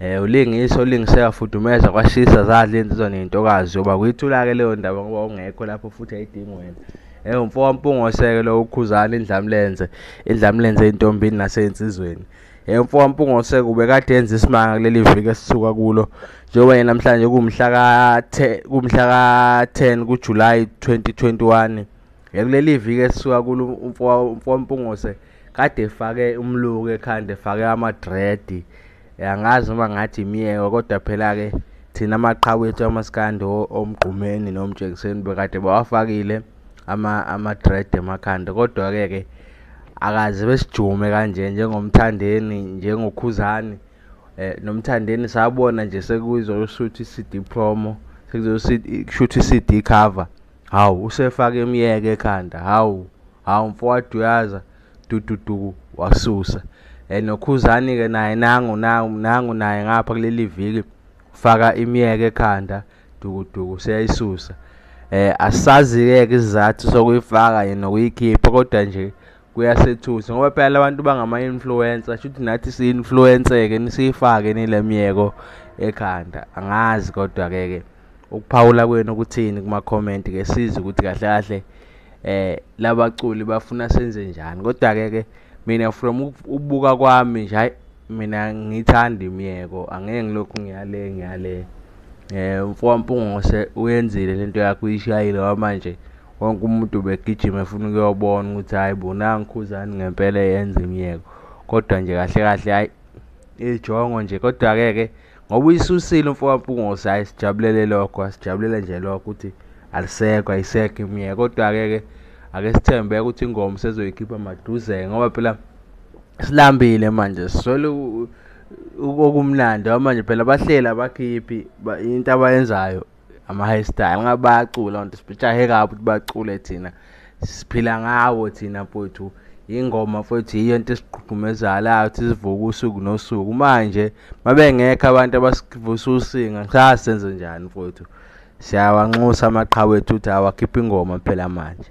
Eh ulingisa ulingise yafudumeza kwashisa zadla insizwa nentokazi yoba kuyithula ke leyo ndaba ngoba ungekho lapho futhi ayidingi wena. Eh umfo wampungoseke lo ukhuzana indlamlenze indlamlenze intombini nasensizweni. Eh umfo wampungoseke ubekade enza isimanga kuleli viki esisuka kulo njengoba yena namhlanje kumhla ka kumhla ka 10 kuJuly 2021. Kuleli viki esisuka kulo umfowampungose kade efake umluku ekhanda efake amadredi angazi noma ngathi imiyeko kodwa phela-ke thina amaqhawe ethu amasikandi omgqumeni nomjekiseni bekade bawafakile amadredi emakhanda kodwa-ke ke akaze besijume kanje njengomthandeni njengokhuzani um nomthandeni sabona nje sekuzoshutha i-cd promo sekuzoshutha i-cd cover Hawu usefake imyeke ekhanda hawu hawu mfowadu uyaza dududuku wasusa eh, nokhuzani ke naye nangu nangu naye ngapha kuleli viki faka imyeke ekhanda dukuduku seyayisusa eh asazi-ke ke isizathu sokuyifaka yena nokuyikhipha kodwa nje kuyasethusa ngoba phela labantu bangama-influencer shuthi nathi si-influence-ke nisiyifake nile myeko ekhanda angazi kodwa-ke ke ukuphawula kwenu kuthini kuma comment ke sizi ukuthi kahle kahle eh labaculi bafuna senze njani kodwa ke ke mina from ukubuka kwami nje hayi mina ngithanda imiyeko angeke ngilokhu ngiyale ngiyale eh mfowampungose uyenzile lento yakho uyishayile wamanje wonke umuntu ubegijima efuna ukuyobona ukuthi hayi bo nangikhuzani ngempela yenza imiyeko kodwa nje kahle kahle hayi ijongo nje kodwa-ke ke ngoba uyisusile umfokampungose hhayi sijabulele lokho asijabulela nje lokho ukuthi alisekho ayisekho imiye kodwa-ke ke ake sithembe ukuthi ingoma sezoyikhipha maduze ngoba phela silambile manje siswele okumnandi manje phela bahleli abakhiphi into abayenzayo ama high style ngabe bayacula onto sijahe kabi ukuthi bacule thina siphila ngawo thina mfowethu ingoma mfowethu yiyo into esigqugqumezalayo ukuthi sivuke usuku nosuku manje mabengekho abantu abasivusa usinga ngisasenze njani mfowethu siyawanxusa amaqhawe ethu ukuthi awakhiphe ingoma phela manje